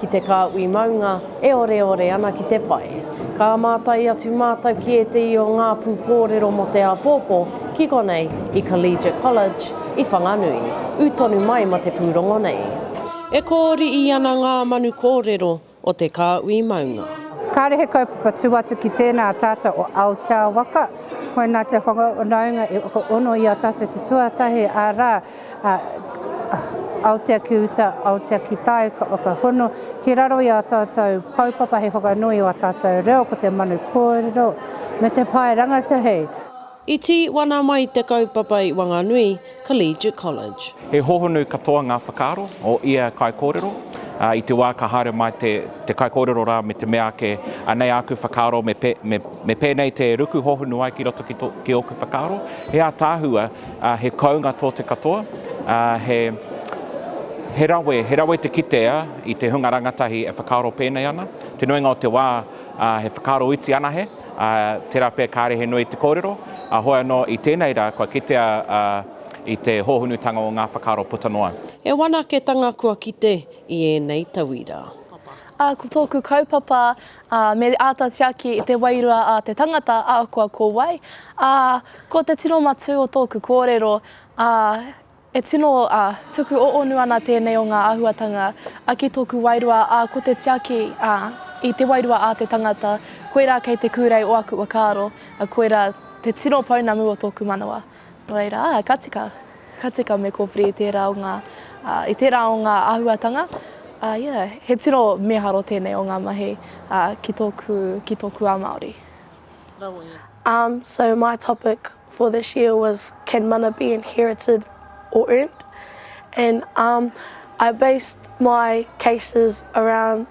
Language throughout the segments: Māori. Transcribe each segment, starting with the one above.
Ki te kāhui maunga e oreore ana ki te pae. Ka mātai atu mātou ki ētehi o ngā pūkōrero mō te āpōpō ki konei i Collegiate College i Whanganui, ū tonu mai ma te pūrongo nei. E kōriī ana ngā manu kōrero o te kāhui maunga. Kāre he kaupapa tū atu ki tēnā tātou o Aotea Waka, koinā te whakawhanaunga i whakaono i a tātou te tuatahi, arā, Aotea ki uta, aotea ki tāu, ka whakahono ki raro i ā tātou kaupapa hei whakanui i ā tātou reo, ko te manu kōrero me te pae rangatahi. I tī wana mai te kaupapa i Wanganui Collegiate College. He hohonu katoa ngā whakaaro o ia kaikōrero, ā, i te wā ka haere mai te, te kaikōrero rā me te mea ake, anei āku whakaaro, me, me, me pēnei te ruku hohonu ai ki roto ki, tō, ki ōku whakaaro, he ātaahua, He kounga tō te katoa, he rawe, he rawe te kitea i te hunga rangatahi e whakaaro pēnei ana. Te nuinga o te wā, he whakaaro iti anahe, tērā pea kāre he nui te kōrero, heoi anō i tēnei rā kua kitea i te hōhunutanga o ngā whakaaro puta noa. He whanaketanga kua kite i ēnei tauira. Ko tōku kaupapa ā, me āta tiaki i te wairua a te tangata ahakoa ko wai, ā, ko te tino matū o tōku kōrero, ā, e tino, ā, tuku ōonu ana tēnei o ngā āhuatanga, ā, ki tōku wairua, ā, ko te tiaki, ā, i te wairua a te tangata, koirā kei te kūrei o aku whakaaro, ā, koirā te tino pounamu o tōku manawa. Nō reira, ka tika, ka tika me kōwhiri i tērā o ngā, i tērā o ngā āhuatanga. Uh, yeah, he tino miharo tēnei o ngā mahi uh, ki, tōku, ki tōku a Māori. Um, so my topic for this year was can mana be inherited or earned? And um, I based my cases around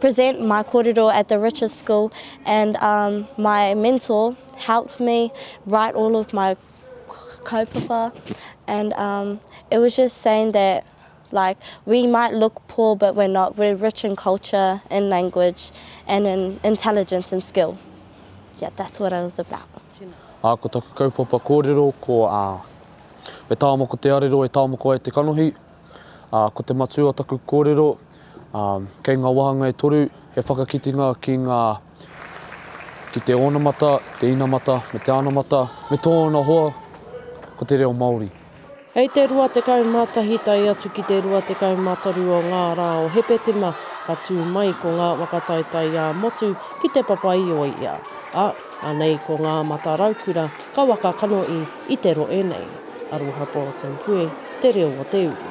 present my korero at the Riches School and um, my mentor helped me write all of my kaupapa and um, it was just saying that like we might look poor but we're not, we're rich in culture, in language and in intelligence and skill. Yeah, that's what I was about. A, ko taku kaupapa kōrero ko a, e tāmoko te arero, e tāmoko ai te kanohi. A, ko te matua taku kōrero, Kei ngā wāhanga e toru he whakakitenga ki ngā, ki te onamata, te inamata, me te anamata, me tōna hoa, ko te reo Māori. Hei te 21 tae atu ki te 23 o ngā rā o Hepetema ka tū mai ko ngā waka taetae ā-motu ki Te Papa-i-ōia, ā, anei ko Ngā Mata Raukura ka waka kanohi i te rohe nei. Aroha Bulletin Puē te reo o te uru.